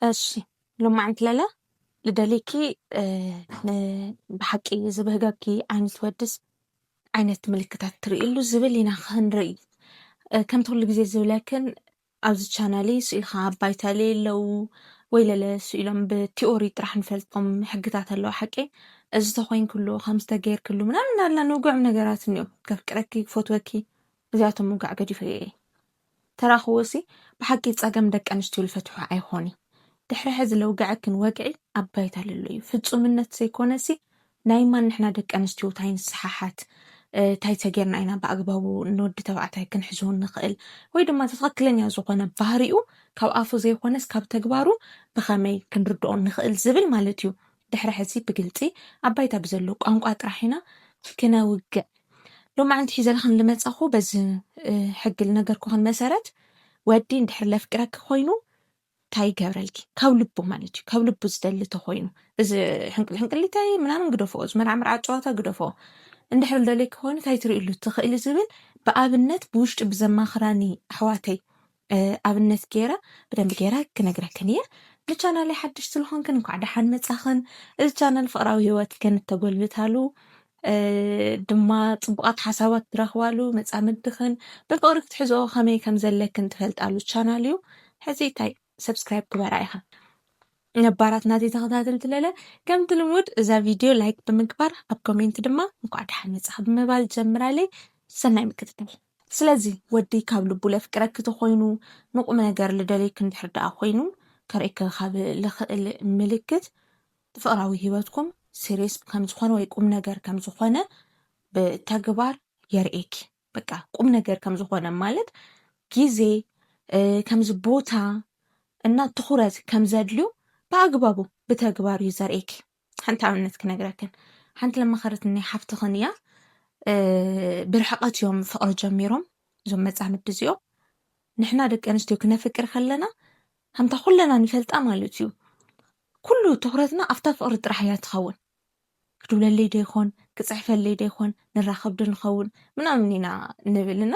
እሺ ሎማዓንቲ ለለ ልደልይኪ ብሓቂ ዝብህገኪ ዓይነት ወድስ ዓይነት ምልክታት ትርእሉ ዝብል ኢና ክንርኢ ከምቲ ኩሉ ግዜ ዝብለክን ኣብዚ ቻናል ስኢልካ ኣባይታ ለየለው ወይ ለለ ስኢሎም ብቲኦሪ ጥራሕ ንፈልጦም ሕግታት ኣለዋ ሓቂ እዚ ተኮይንክሉ ከም ዝተገይርክሉ ምናምን ኣላ ንውግዕም ነገራት እኒኦም ከፍቅረኪ ክፈትወኪ እዚኣቶም ምውጋዕ ገዲፈ እየ ተራኽቦ'ሲ ብሓቂ ጸገም ደቂ ኣንስትዮ ልፈትሖ ኣይኾንይ። ድሕሪ ሕዚ ለውገዐክን ወግዒ ኣብ ባይታ ለሎ እዩ። ፍጹምነት ዘይኮነሲ ናይ ማን ንሕና ደቂ ኣንስትዮ ታይ ንሰሓሓት፣ ታይ ተጌርና ኢና ብኣግባቡ ንወዲ ተባዕታይ ክንሕዞ ንኽእል ወይ ድማ እቲ ትኽክለኛ ዝኾነ ባህሪኡ ካብ ኣፉ ዘይኾነስ ካብ ተግባሩ ብኸመይ ክንርድኦ ንኽእል ዝብል ማለት እዩ። ድሕሪ ሕዚ ብግልጺ ኣብ ባይታ ብዘሎ ቋንቋ ጥራሕ ኢና ክነውግዕ። ሎማዕንቲ ሒዘልኽን ልመጸኹ በዚ ሕጊ ልነገርኩኽን መሰረት ወዲ እንድሕር ለፍቅረኪ ኮይኑ እንታይ ይገብረልኪ ካብ ልቡ ማለት እዩ ካብ ልቡ ዝደሊ ተኮይኑ እዚ ሕንቅል ሕንቅሊታይ ምናምን ግደፎ እዚ መርዓ መርዓ ጨዋታ ግደፎ እንድሕር ልደልየኪ ኮይኑ እንታይ ትርእሉ ትኽእሊ ዝብል ብኣብነት ብውሽጢ ብዘማኽራኒ ኣሕዋተይ ኣብነት ገይረ ብደንቢ ገይረ ክነግረክን እየ ንቻናለይ ሓድሽ ስለኾንክን እንኳዕ ደሓን መፃኽን እዚ ቻናል ፍቅራዊ ህይወትክን እተጎልብታሉ ድማ ፅቡቃት ሓሳባት ትረኽባሉ መፃምድኽን ብፍቅሪ ክትሕዝኦ ከመይ ከም ዘለክን ትፈልጣሉ ቻናል እዩ ሕዚ እንታይ ሰብስክራይብ ግበራ ኢኻ ነባራት ናተይ ተኸታተልቲ ለለ ከምቲ ልሙድ እዛ ቪድዮ ላይክ ብምግባር ኣብ ኮሜንት ድማ እንኳዕ ደሓን መጻኺ ብምባል ጀምራለይ ሰናይ ምክትታል ስለዚ ወዲ ካብ ልቡ ለፍቅረኪ ተኾይኑ ንቁም ነገር ልደልየኪ እንድሕር ደኣ ኮይኑ ከርእኪ ካብ ልኽእል ምልክት ፍቅራዊ ህይወትኩም ሲሪየስ ከም ዝኾነ ወይ ቁም ነገር ከም ዝኾነ ብተግባር የርእየኪ በቃ ቁም ነገር ከም ዝኾነ ማለት ግዜ ከምዚ ቦታ እና ትኹረት ከም ዘድልዩ ብኣግባቡ ብተግባር እዩ ዘርእየኪ። ሓንቲ ኣብነት ክነግረክን ሓንቲ ለማኸረት ናይ ሓፍትኽን እያ ብርሕቐት እዮም ፍቕሪ ጀሚሮም እዞም መጻምድ እዚኦም ንሕና ደቂ ኣንስትዮ ክነፍቅር ከለና ከምታ ኩለና ንፈልጣ ማለት እዩ ኩሉ ትኩረትና ኣብታ ፍቕሪ ጥራሕ እያ ትኸውን ክድውለለይ ዶ ይኾን ክጽሕፈለይ ዶ ይኾን ንራኸብ ዶ ንኸውን ምናምን ኢና ንብል እና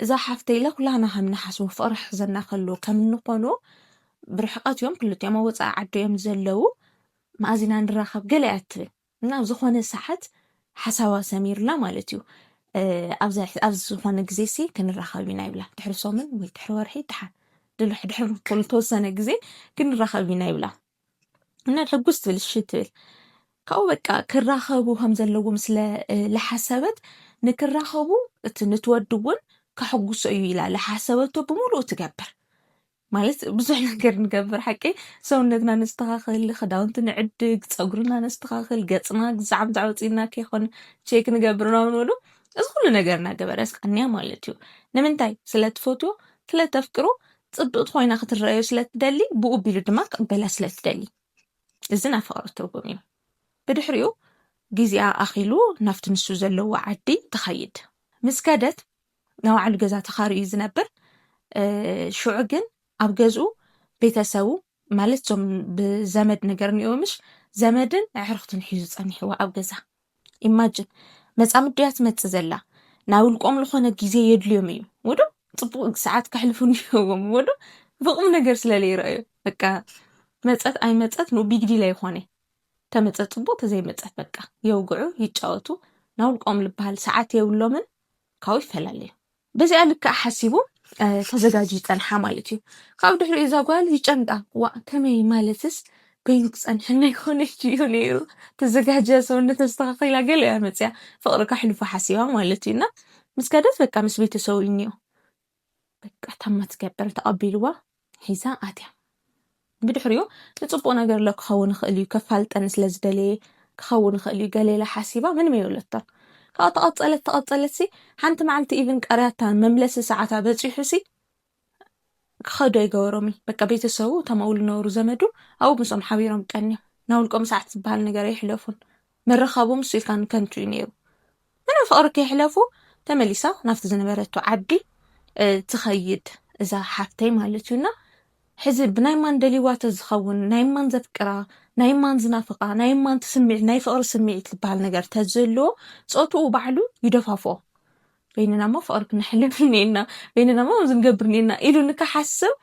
እዛ ሓፍተይ ኢለ ኩላህና ከም ንሓስቦ ፍቕሪ ሕዘና ከሎ ከም እንኾኖ ብርሕቀት እዮም ክልቲኦም ኣብ ወፃኢ ዓዲ እዮም ዘለዉ መኣዚና ንራኸብ ገለ እያ ትብል እና ኣብ ዝኾነ ሰዓት ሓሳባ ሰሚርላ ማለት እዩ ኣብ ዝኾነ ግዜ ሲ ክንራኸብ ኢና ይብላ ድሕሪ ሶምን ወይ ድሕሪ ወርሒ ድሓን ድሕሪ ተወሰነ ግዜ ክንራኸብ ኢና ይብላ እና ሕጉስ ትብል እሺ ትብል ካብኡ በቃ ክራኸቡ ከም ዘለዎም ስለ ዝሓሰበት ንክራኸቡ እቲ ንትወዲ እውን ከሕጉሶ እዩ ኢላ ዝሓሰበቶ ብምሉኡ ትገብር ማለት ብዙሕ ነገር ንገብር ሓቂ ሰውነትና ነስተኻኽል ክዳውንቲ ንዕድግ ፀጉርና ነስተኻኽል ገፅና ግዛዕ ብዛዕ ወፂና ከይኮን ቼክ ንገብር ናውንሉ እዚ ኩሉ ነገር እናገበረስ ቀንያ ማለት እዩ ንምንታይ ስለትፈትዎ ስለተፍቅሮ ጽብቕቲ ኮይና ክትረኣዮ ስለ እትደሊ፣ ብኡ ኣቢሉ ድማ ክቕበላ ስለ እትደሊ። እዚ ናይ ፍቕሪ ትርጉም እዩ። ብድሕሪኡ ግዜኣ ኣኺሉ ናብቲ ንሱ ዘለዎ ዓዲ ትኸይድ። ምስ ከደት ናይ ባዕሉ ገዛ ተኻርዩ እዩ ዝነብር። ሽዑ ግን ኣብ ገዝኡ ቤተሰቡ ማለት እዞም ብዘመድ ነገር ኒኦ ምሽ ዘመድን ኣዕርኽትን ሒዙ ጸኒሕዋ ኣብ ገዛ ኢማጅን መጻምድ ድያ ትመጽእ ዘላ ናይ ውልቆም ዝኾነ ግዜ የድልዮም እዩ ወዶ ጽቡቅ ሰዓት ከሕልፉ ኒዎም ወዶ ብቁም ነገር ስለ ለይረኣዩ በቃ መጸት ኣይመጸት ን ቢግ ዲል ኣይኾነ ተመጸት ጽቡቅ ተዘይመጸት በቃ የውግዑ ይጫወቱ ናይ ውልቆም ልበሃል ሰዓት የብሎምን ካብኡ ይፈላለዩ። በዚኣ ልክዕ ሓሲቡ ተዘጋጅ ይፀንሓ ማለት እዩ ካብኡ ድሕሪ እዛ ጓል ይጨንቃ ዋእ ከመይ ማለትስ ኮይኑ ክፀንሐና ይኮነች እዩ ነይሩ ተዘጋጅያ ሰውነት ኣስተካኪላ ገለ እያ መፅያ ፍቅሪ ከሕልፉ ሓሲባ ማለት እዩ እና ምስ ከደት በቃ ምስ ቤተሰቡ እዩ እኒኦ በቃ ታማ ትገብር ተቐቢልዋ ሒዛ ኣትያ ብድሕሪኡ ንፅቡቕ ነገር ሎ ክኸውን ይኽእል እዩ ከፋልጠኒ ስለ ዝደለየ ክኸውን ይኽእል እዩ ገለ ኢላ ሓሲባ ምንም የብለቶን ካብኡ ተቐፀለት ተቐፀለት ሲ ሓንቲ መዓልቲ ኢቭን ቀርያታ መምለሲ ሰዓታ በፂሑ ሲ ክኸዱ ኣይገበሮም እዩ በቃ ቤተሰቡ እቶም ኣብኡ ዝነበሩ ዘመዱ ኣብኡ ምስኦም ሓቢሮም ቀንዮም ናይ ውልቆም ሰዓት ዝበሃል ነገር ኣይሕለፉን ምርኻቡ ምስ ሱልታን ከንቱ እዩ ነይሩ። ምንም ፍቕሪ ከይሕለፉ ተመሊሳ ናብቲ ዝነበረቶ ዓዲ ትኸይድ እዛ ሓፍተይ ማለት እዩ እና ሕዚ ብናይ ማን ደልይዋ ተዝኸውን ናይ ማን ዘፍቅራ ናይ ማን ዝናፍቃ ናይ ማን ትስምዒት ናይ ፍቕሪ ስምዒት ዝበሃል ነገር ተዘሎ ፆትኡ ባዕሉ ይደፋፎ በይንና እሞ ፍቕሪ ክነሕልፍ እኒኤና፣ በይንና እሞ ከምዚ ንገብር እኒኤና ኢሉ ንክሓስብ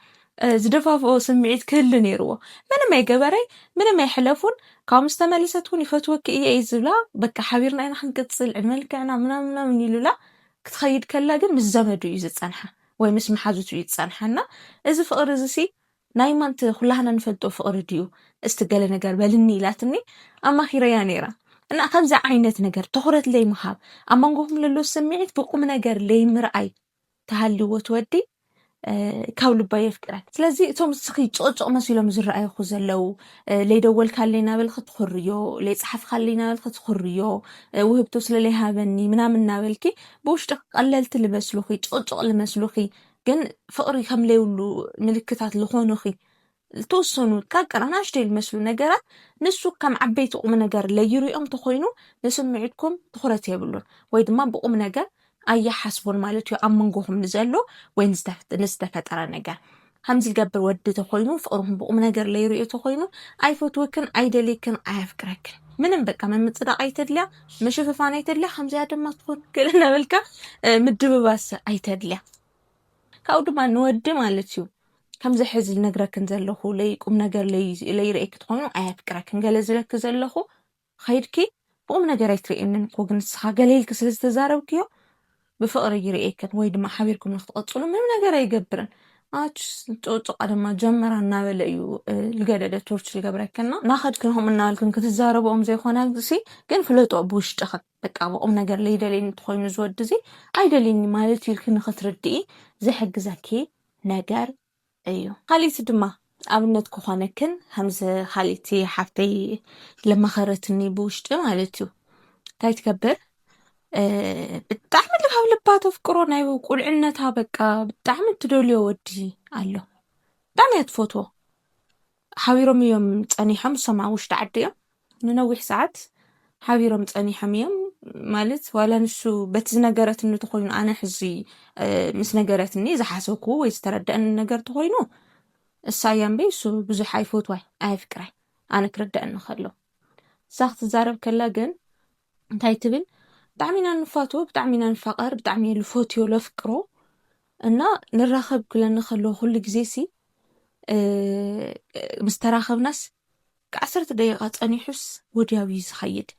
ዝደፋፍኦ ስምዒት ክህሉ ነይርዎ ምንም ኣይገበረይ ምንም ኣይሕለፉን ካብ ምስ ተመለሰት እውን ይፈትወኪ እየ እዩ ዝብላ በቃ ሓቢርና ኢና ክንቅፅል ዕድመ ልክዕና ምናምን ምናምን ይሉላ ክትኸይድ ከላ ግን ምስ ዘመዱ እዩ ዝፀንሓ ወይ ምስ መሓዙቱ እዩ ዝፀንሓ እና እዚ ፍቕሪ እዚ ሲ ናይ ማንት ኩላህና ንፈልጦ ፍቅሪ ድዩ እስቲ ገለ ነገር በልኒ ኢላትኒ ኣማኪረያ ነይራ እና ከምዚ ዓይነት ነገር ትኩረት ለይምሃብ ኣብ መንጎኩም ለሎ ስምዒት ብቁምነገር ለይምርኣይ ተሃልዎ እቲ ወዲ ካብ ልባ የፍቅረክ ስለዚ እቶም እስኺ ጭቕጭቕ መሲሎም ዝረኣዩኹ ዘለው ለይደወልካለይ ናበል ክትኩርዮ ለይፀሓፍካለይ ናበል ክትኩርዮ ውህብቶ ስለለይሃበኒ ምናምን ናበልኪ ብውሽጢ ቀለልቲ ልመስሉኺ ጭቕጭቕ ልመስሉኺ ግን ፍቅሪ ከም ለይብሉ ምልክታት ዝኾኑኺ ዝተወሰኑ ጥቃቅን ኣናእሽተይ ዝመስሉ ነገራት ንሱ ከም ዓበይቲ ቁም ነገር ለይሪኦም ተኾይኑ ንስምዒትኩም ትኹረት የብሉን ወይ ድማ ብቁም ነገር ኣያሓስቡን ማለት እዩ ኣብ መንጎኹም ንዘሎ ወይ ንዝተፈጠረ ነገር ከምዚ ዝገብር ወዲ ተኾይኑ ፍቅርኹም ብቁም ነገር ለይሪኦ ተኾይኑ ኣይፈትወክን ኣይደልይክን ኣየፍቅረክን ምንም በቃ ምምፅዳቅ ኣይተድልያ ምሽፍፋን ኣይተድልያ ከምዚኣ ድማ ትኾን ገለ እናበልካ ምድብባስ ኣይተድልያ ካብኡ ድማ ንወዲ ማለት እዩ ከምዚ ሕዚ ዝነግረክን ዘለኹ ለይ ቁም ነገር ለይርእኪ ትኾኑ ኣየፍቅረክን ገለ ዝለኪ ዘለኹ ኸይድኪ ብቁም ነገር ኣይትርእየንን እኮ ግን ንስኻ ገለ ኢልኪ ስለ ዝተዛረብክዮ ብፍቕሪ ይርእየክን ወይ ድማ ሓቢርኩም ንክትቕጽሉ ምንም ነገር ኣይገብርን። ኣችስ ጡጡቃ ድማ ጀመራ እናበለ እዩ ልገደደ ቶርች ልገብረክና ናኸድክን ከምኡ እናበልክን ክትዛረብኦም ዘይኮነ ሲ ግን ፍለጦ ብውሽጥኽን በቃ ብቑም ነገር ለይደልየኒ እንተኾይኑ ዝወዲ እዚ ኣይደልየኒ ማለት ኢልክ ንክትርድኢ ዝሕግዘኪ ነገር እዩ። ኻሊእቲ ድማ ኣብነት ክኾነክን ከምዚ ኻሊእቲ ሓፍተይ ለመኸረትኒ ብውሽጢ ማለት እዩ እንታይ ትገብር ብጣዕሚ ልካብ ልባ ተፍቅሮ ናይ ቁልዕነታ በቃ ብጣዕሚ እትደልዮ ወዲ ኣሎ ብጣዕሚ እያ ትፈትዎ ሓቢሮም እዮም ጸኒሖም እሶም ኣብ ውሽጢ ዓዲ እዮም ንነዊሕ ሰዓት ሓቢሮም ጸኒሖም እዮም ማለት ዋላ ንሱ በቲ ዝነገረትኒ ተኾይኑ ኣነ ሕዚ ምስ ነገረትኒ ዝሓሰብኩ ወይ ዝተረደእኒ ነገር ተኾይኑ እሳ እያ እምበይ እሱ ብዙሕ ኣይፈትዋይ ኣየፍቅራይ ኣነ ክርደእኒ ከሎ እሳ ክትዛረብ ከላ ግን እንታይ ትብል ብጣዕሚ ኢና ንፋትዎ ብጣዕሚ ኢና ንፋቐር ብጣዕሚ እየ ልፈትዮ ለፍቅሮ እና ንራኸብ ክለኒ ከለዎ ኩሉ ግዜ ሲ ምስ ተራኸብናስ ዓሰርተ ደቂቃ ጸኒሑስ ወድያው እዩ ዝኸይድ።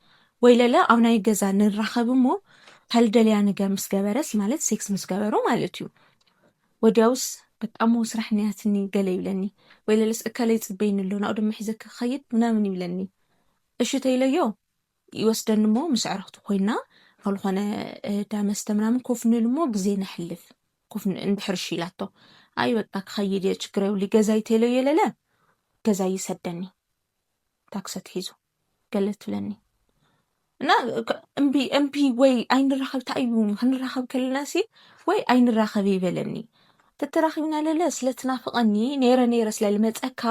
ወይለለ ኣብ ናይ ገዛ ንራኸብ እሞ ካልደልያ ንገር ምስ ገበረስ ማለት ሴክስ ምስ ገበሮ ማለት እዩ። ወድያውስ በቃ እሞ ስራሕ ንያትኒ ገለ ይብለኒ። ወይለለስ እከለ ይጽበይኒ ኣሎ ናኡ ድማ ሒዘኪ ክኸይድ ምናምን ይብለኒ። እሺ ተይለዮ ይወስደኒ እሞ ምስ ኣዕርኽቱ ኮይና ኣብ ዝኾነ ዳመስተ ምናምን ኮፍ ንብል እሞ ግዜ ነሕልፍ። ኮፍ እንድሕር እሺ ኢላቶ ኣይ በቃ ክኸይድ እየ ችግር የብሉይ ገዛይ ቴሎ የለለ ገዛይ ይሰደኒ ታክሲ ኣትሒዙ ገለ ትብለኒ እና እምቢ እምቢ ወይ ኣይንራኸብ እንታይ እዩ ክንራኸብ ከለና ሲ ወይ ኣይንራኸብ ይበለኒ ተተራኺብና ለለ ስለትናፍቐኒ ነይረ ነይረ ስለልመፀካ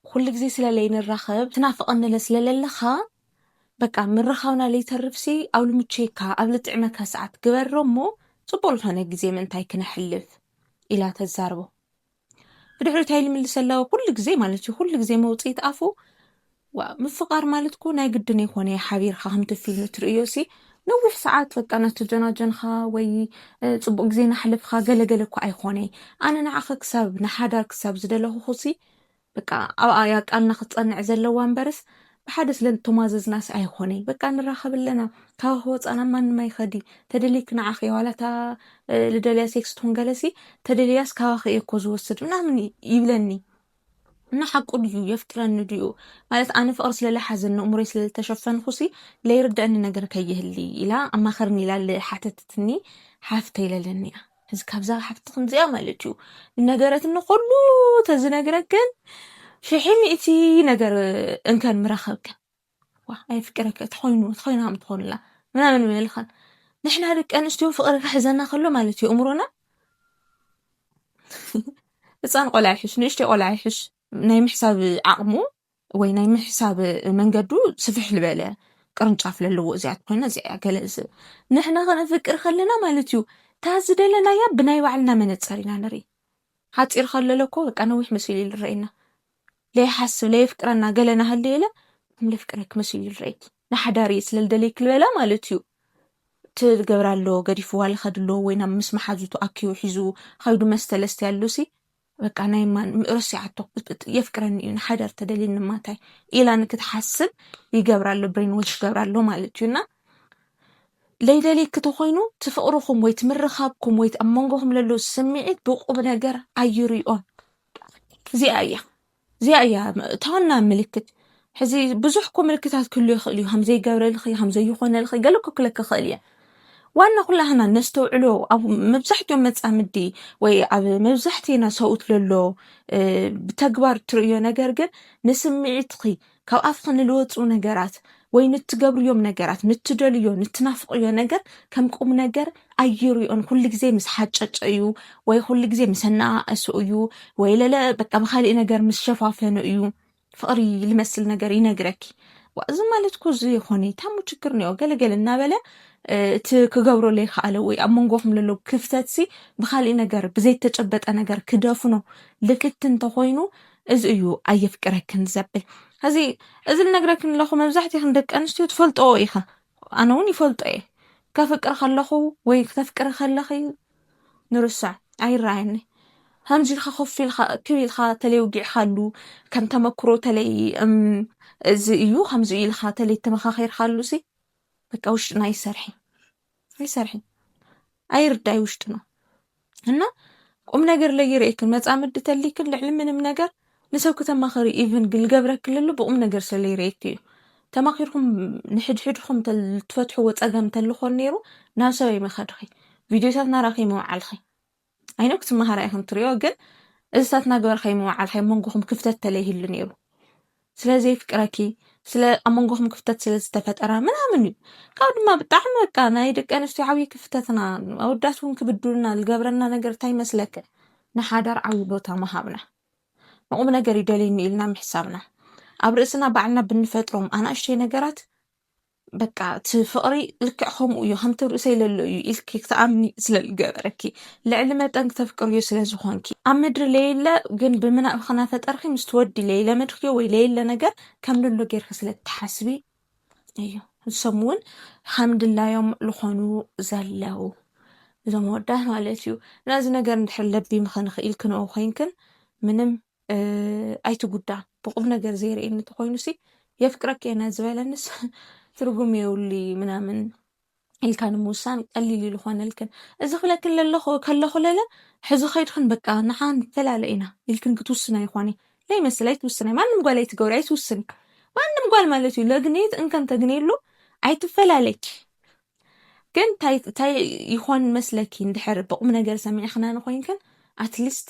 ኩሉ ግዜ ስለለይ ንራኸብ ትናፍቐኒለ ስለለለኻ በቃ ምርኻብና ለይተርፍሲ ኣብ ልምቸየካ ኣብ ልጥዕመካ ሰዓት ግበሮ እሞ ጽቡቕ ልኾነ ግዜ ምእንታይ ክነሕልፍ ኢላ ተዛርቦ ብድሕሪ እንታይ ልምልሰላዎ ኩሉ ግዜ ማለት እዩ ኩሉ ግዜ መውጽኢት ኣፉ ምፍቃር ማለት እኮ ናይ ግድን የኮነ ሓቢርካ ከምቲ ፊልም ትርእዮ ሲ ነዊሕ ሰዓት በቃ ናተጀናጀንኻ ወይ ፅቡቅ ግዜ ናሕልፍካ ገለገለ እኳ ኣይኮነ ኣነ ንዓኸ ክሳብ ንሓዳር ክሳብ ዝደለኹኹ ሲ በቃ ኣብኣ እያ ቃልና ክትጸንዕ ዘለዋ እምበርስ ብሓደ ስለ እተማዘዝናስ ኣይኾነይ በቃ ንራኸብ ኣለና ካብኺ ወጻና ማንም ኣይኸዲ ተደሊክ ንዓኺ እየ ዋላ እታ ልደልያ ሴክስ ትኹን ገለሲ ተደልያስ ካባኺ እየ እኮ ዝወስድ ምናምን ይብለኒ እና ሓቁ ድዩ የፍቅረኒ ድዩ ማለት ኣነ ፍቅሪ ስለለሓዘኒ እሙረይ ስለልተሸፈንኹሲ ለይርደአኒ ነገር ከይህሊ ኢላ ኣማኸርኒ ኢላ ሓተትትኒ ሓፍተይ ለለኒ እያ እዚ ካብዛ ሓፍቲ ከምዚኣ ማለት እዩ ነገረትኒ ኩሉ ተዝነግረክን ሽሒ ሚእቲ ነገር እንከን ምረኸብክን ዋ ኣይፍቅረከ ተኾይኑ ተኾይኑ ከም ትኾንላ ምናምን ምልኸን ንሕና ደቂ ኣንስትዮ ፍቅሪ ክሕዘና ከሎ ማለት እዩ እምሮና ህፃን ቆልዓ ይሕሽ ንእሽተይ ቆልዓ ይሕሽ ናይ ምሕሳብ ዓቕሙ ወይ ናይ ምሕሳብ መንገዱ ስፍሕ ልበለ ቅርንጫፍ ለለዎ እዚኣት ኮይና እዚኣ ገለ ንሕና ከነፍቅር ከለና ማለት እዩ እታ ዝደለናያ ብናይ ባዕልና መነፀር ኢና ንርኢ ሓፂር ከለለ እኮ በቃ ነዊሕ መሲሉ ይልረየና ለይሓስብ ለየፍቅረና ገለ ናሃለየለ ከም ለፍቅረክ መሲሉ ይልረየክ ንሓዳር እየ ስለልደለይክ ልበላ ማለት እዩ ትገብራ ኣሎ ገዲፍዋ ልኸድ ኣሎ ወይ ናብ ምስ መሓዙቱ ኣኪቡ ሒዙ ኸይዱ መስተለስተ ያሉሲ በቃ ናይ ማን ረሲዓቶ የፍቅረኒ እዩ ንሓዳር ተደልኒ ማታይ ኢላ ንክትሓስብ ይገብራ ኣሎ ብሬን ዎች ይገብራ ኣሎ ማለት እዩ እና ለይደልየኪ ተኮይኑ ትፍቅርኩም ወይ ትምርካብኩም ወይ ኣብ መንጎኩም ለሎ ስምዒት ብቁብ ነገር ኣይርኦን እዚኣ እያ እዚኣ እያ እታ ዋና ምልክት ሕዚ ብዙሕ እኮ ምልክታት ክህሉ ይኽእል እዩ ከም ዘይገብረልኺ ከም ዘይኾነልኺ ገለ እኮ ክለኪ ይኽእል እየ ዋና ኩላህና ነስተውዕሎ ኣብ መብዛሕትኦም መፃምዲ ወይ ኣብ መብዛሕትእና ሰብኡት ለሎ ብተግባር እትርእዮ ነገር ግን ንስምዒትኺ ካብ ኣፍኺ ንልወጹ ነገራት ወይ ንትገብርዮም ነገራት ንትደልዮ ንትናፍቕዮ ነገር ከም ቁም ነገር ኣይርዮን ኩሉ ግዜ ምስ ሓጨጨ እዩ ወይ ኩሉ ግዜ ምስ ኣነኣእሶ እዩ ወይ ለለ በቃ ብካሊእ ነገር ምስ ሸፋፈኑ እዩ ፍቕሪ ልመስል ነገር ይነግረኪ እዚ ማለት እኮ እዚ ኾኒታ እሞ ችግር ኒኦ ገለገለ እናበለ እቲ ክገብሮ ዘይከኣለ ወይ ኣብ መንጎኹም ዘሎ ክፍተት ሲ ብካሊእ ነገር ብዘይተጨበጠ ነገር ክደፍኖ ልክት እንተኾይኑ እዚ እዩ ኣየፍቅረክን ዘብል እዚ እዚ ልነግረክን ኣለኹ መብዛሕትክን ደቂ ኣንስትዮ ትፈልጠኦ ኢኽን ኣነ እውን ይፈልጦ እየ ከፍቅር ከለኹ ወይ ክተፍቅሪ ከለኺ ንርሳዕ ኣይረኣየኒ ከምዚ ኢልካ ኮፍ ኢልካ እክብ ኢልካ ተለይ ውጊዕካሉ ከም ተመክሮ ተለይ እዚ እዩ ከምዚ ኢልካ ተለይ ተመኻኺርካሉ ሲ በቃ ውሽጥና ይሰርሒ ኣይሰርሕን ኣይርዳይ ውሽጢ ነው እና ቁም ነገር ለይርእክን መጻምድ ተሊክን ልዕሊ ምንም ነገር ንሰብ ክተማኸሪ ኢቭን ግልገብረክልሉ ብቁም ነገር ስለይርእክ እዩ ተማኺርኩም ንሕድሕድኩም ትፈትሕዎ ፀገም ተልኾን ነይሩ ናብ ሰበይ መኸድኺ ቪድዮታት ናራኺ መውዓልኺ I know ክትመሃራ ኢኽን ትሪኦ ግን እዚታት እናገበርካይ ምውዓልካይ መንጎኹም ክፍተት ተለይህሉ ነይሩ ስለ ዘይፍቅረኪ ስለ ኣብ መንጎኹም ክፍተት ስለ ዝተፈጠረ ምናምን እዩ ካብ ድማ ብጣዕሚ በቃ ናይ ደቂ ኣንስትዮ ዓብዪ ክፍተትና ኣወዳት እውን ክብድሉና ዝገብረና ነገር እንታይ ይመስለክ ንሓዳር ዓብዪ ቦታ ምሃብና ንቑም ነገር ይደልዩኒ ኢልና ምሕሳብና ኣብ ርእስና ባዕልና ብንፈጥሮም ኣናእሽተይ ነገራት በቃ እቲ ፍቕሪ ልክዕ ከምኡ እዩ ከምቲ ርእሰይ ለሎ እዩ ኢልኪ ክትኣምኒ ስለ ዝገበረኪ ልዕሊ መጠን ክተፍቅርዮ ስለ ዝኾንኪ ኣብ ምድሪ ለየለ ግን ብምናብ ክናፈጠርኪ ምስ ትወዲ ለይለ ምድርኪ ወይ ለየለ ነገር ከም ለሎ ጌርኪ ስለ ትሓስቢ እዩ እሶም እውን ከም ድላዮም ዝኾኑ ዘለው እዞም ወዳት ማለት እዩ ነዚ ነገር እንድሕር ለቢምኽን ኽኢልክንኦ ኮይንክን ምንም ኣይትጉዳ ብቁም ነገር ዘይርእየኒ ተኮይኑሲ የፍቅረኪ እየ ዝበለንስ ትርጉም የብሉ ምናምን ኢልካ ንምውሳን ቀሊል ኢሉ ኮነልክን እዚ ክብለክን ከለኩ ለለ ሕዚ ከይድክን በቃ ንሓ ንፈላለ ኢና ኢልክን ክትውስን ኣይኮነ ለይመስል ኣይትውስን ማንም ጓል ኣይትገብሪ ኣይትውስን ማንም ጓል ማለት እዩ ለግኔት እንከን ተግኔሉ ኣይትፈላለች ግን እንታይ ይኾን መስለኪ እንድሕር ብቁም ነገር ሰሚዕክና ንኮይንክን ኣትሊስት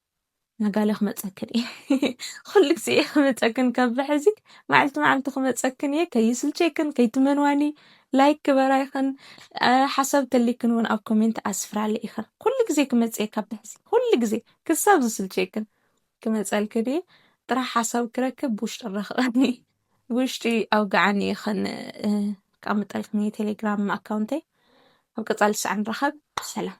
ናጋለ ክመጸክን እየ ኩሉ ግዜ እየ ክመጸክን ካብ ሕዚ መዓልቲ መዓልቲ ክመጸክን እየ ከይስልቸክን ከይትመንዋኒ ላይክ ግበራ ይኽን ሓሳብ ተሊክን እውን ኣብ ኮሜንት ኣስፍራለ ይኽን ኩሉ ግዜ ክመጽ እየ ካብ ሕዚ ኩሉ ግዜ ክሳብ ዝስልቸክን ክመጸልክን እየ ጥራሕ ሓሳብ ክረክብ ብውሽጢ ረኽበኒ ብውሽጢ ኣውግዓኒ ይኽን ክኣምጠልክን እየ ቴሌግራም ኣካውንተይ ኣብ ቀጻሊ ሳዕ ንራኸብ ሰላም